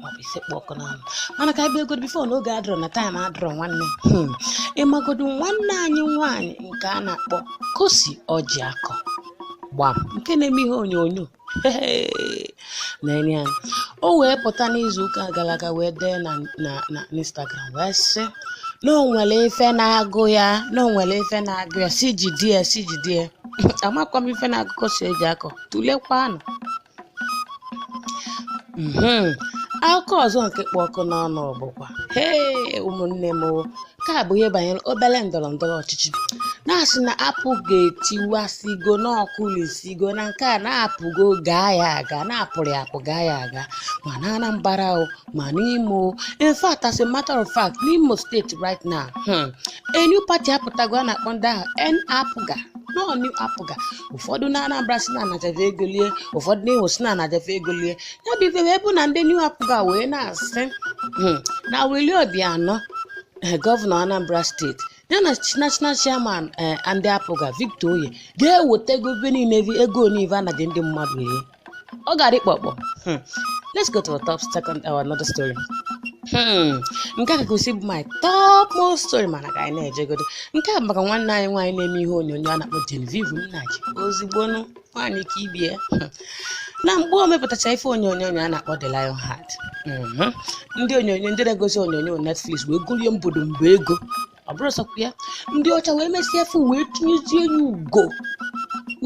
maọbụ ife kpụ ọkụ n'ọnụ mana ka e bidogodi bifo n'oge adịrọ na taịm adịrọ nwanne hmm. ịmagodu nwanne anyị nwaanyị nke a na-akpọ Cossy Ojiakor gbam nke na-eme ihe onyonyo na-enye anyị o wee pụta n'izu ụka gara aga wee dee na na na instagram wee sị na o nwere ife na-agụ ya na o nwere ife na-agụ ya si jide ya si jide ya amakwa m ife na-agụ Cossy Ojiakor tụlekwanụ Mhm. akụkọ ọzọ nke kpụ ọkụ n'ọnụ bụkwa hee ụmụnne m o, nke a bụ ihe banyere obere ndọrọ ndọrọ ọchịchị na-asị na APGA etiwasịgo n'ọkụ lisigo na nke a na-apụgo gaa ya aga na-apụrụ ya apụ gaa ya aga ma na anambra o ma n'imo o. in fact as a matter of fact n'imo steeti right now hmm, a new party apụtago a na-akpọ ndị ahụ N-APGA or new APGA ụfọdụ na Anambra sị na a nacha fa ego lie ụfọdụ na Imo sị na a nacha fa ego lie ya bụ ife wee bụ na ndị new APGA wee na-asị "Hmm, na Willie Obiano eh, gọvanọ anambra steeti ya na chi- national chairman eh, ndị APGA Victor Oye ga-eweta ego ife niile ego niile a nachara ndị mmadụ ihe ọ gara ịkpọkpọ Hmm. let's go to our top second our another story Hmm. nke a ka kwesị ịbụ my top most story mana ka anyị na-ejegodo nke a bụ maka nwanne anyị nwaanyị na-eme ihe onyonyo a na-akpọ Genevieve Nnaji ezigbo nwaanyị ka ibe ya Hmm. na mgbe o mepụtacha ife onyonyo a na-akpọ The Lion Heart Mhm. ndị onyonyo ndị na-egosi onyonyo Netflix wee golu ya mbodo mba ego ọ bụrụ sọkwa ya ndị ọcha wee mesịa ife wee tinyezie ya ugo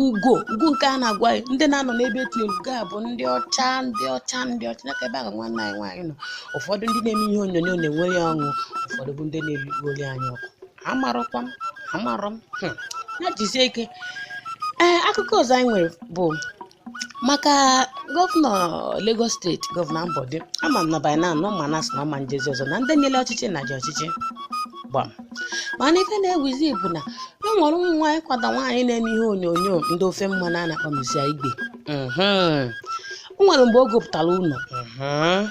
ugo ugo nke a na-agwa anyị ndị na-anọ n'ebe etinyere ugo a bụ ndị ọcha ndị ọcha ndị ọcha n'aka ebe ahụ nwanne anyị nwaanyị nọ ụfọdụ ndị na-eme ihe onyonyo na-enwere ya ọṅụ ụfọdụ bụ ndị na-enwere ya anya ọkụ amarọkwa m amarọ m hmm. ya jisie ike ee akụkọ ọzọ anyị nwere bụ maka gọvanọ Lagos steeti gọvanọ Ambode ama m na by now na unu ama na a sị na ọ ma ejezi ọzọ na ndị nyere ọchịchị na ji ọchịchị gbam mana ife na-ewuzi bụ na e nwere ụmụ nwaanyị kwada nwaanyị na-eme ihe onyonyo ndị ofe mmanụ a na-akpọ Mercy Aigbe mhm. o nwere mgbe o gopụtara ụlọ mhm.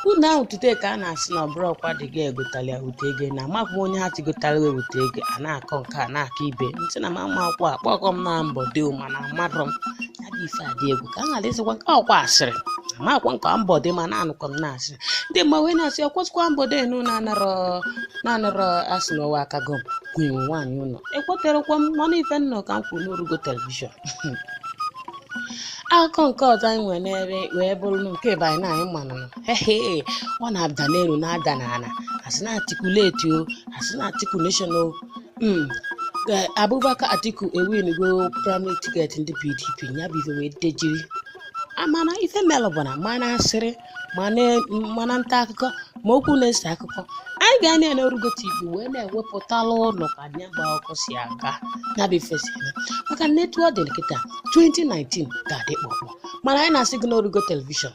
ụlọ ahụ tute ka a na-asị na ọ bụrọkwa di ya gotara ya wete ego na amaghị onye ha tigotara wee wete ego a na-akọ nke a na-akọ ibe ntị na m ama akwụkwọ akpọkọ m na Ambode mana mmadụ m ya dị ife adị egwu ka a ghara ịsịkwa nke ọkwa asịrị amakwa m ọkwa Ambode ma na-anụkwa m na-asị ndị mma wee na-asị ọkwụsịkwa Ambode enu na-anọrọ na-anọrọ asị na ụwa akago m kwuo nwaanyị ụlọ ekweterọkwa m mana ife m nụ ka m kwuru n'orugo telivishọn akụkọ nke ọzọ anyị nwere n'ebe wee bụrụ na nke banyị na anyị manụ hehe ọ na-ada n'elu na-ada n'ala a sị na Atikulate o a sị na Atikulation o Mm. Eh, Abubakar Atiku ewingo primary ticket ndị PDP ya bụ ife wee dejiri mana ife melụ bụ na ma na asịrị ma na ma na nta akụkọ ma okwu na-ese akụkọ anyị ga-anọ n'Orugo TV wee na-ewepụtalụ unu ka anya gba ọkụ si aga ya bụ ife si eme maka na etu ọ dị kịta 2019 ga-adị kpọkpọ mana anyị na-asị gị n'Orugo telivishọn